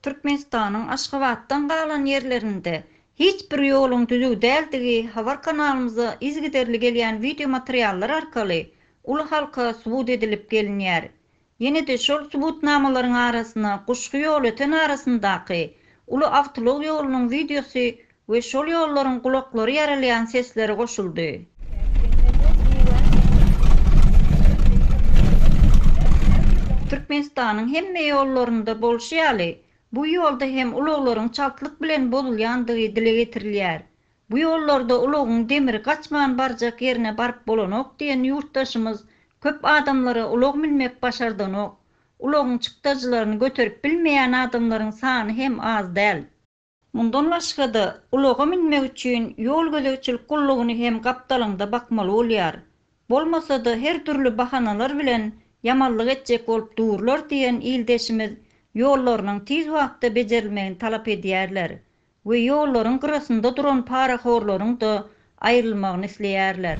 Türkmenistanyň Aşgabatdan galan ýerlerinde hiç bir ýoluň düzüw däldigi habar kanalymyza yzygiderli gelýän wideo materiallar arkaly uly halka subut edilip gelinýär. Ýene-de şol subutnamalaryň arasyna Guşgy ýolöten arasyndaky uly awtoulag ýolunyň wideosy We şol ýollaryň gulaklary ýarylýan sesleri goşuldy. Türkmenistanyň hemme ýollarynda bolşy ýaly, bu ýolda hem ulaglaryň çaltlyk bilen bozulýandygy dile getirilýär. Bu ýollarda ulagyň demiri gaçman barjak ýerine baryp bolanok diýen ýurtdaşymyz köp adamlara ulag münmek başardanok, ulagyň çykdajylaryny göterip bilmeýän adamlaryň sany hem az däl. Mundan başga-da, ulaga münmek üçin ýol gözegçilik gullugyny hem gapdalyňda bakmaly bolýar. Bolmasa-da, her dürli bahanalar bilen ýamanlyk etjek bolup durlar diýen ildeşimiz ýollarynyň tiz wagtda bejerilmegini talap edýärler we ýollaryň gyrasynda duran parahorlaryň-da aýrylmagyny isleýärler.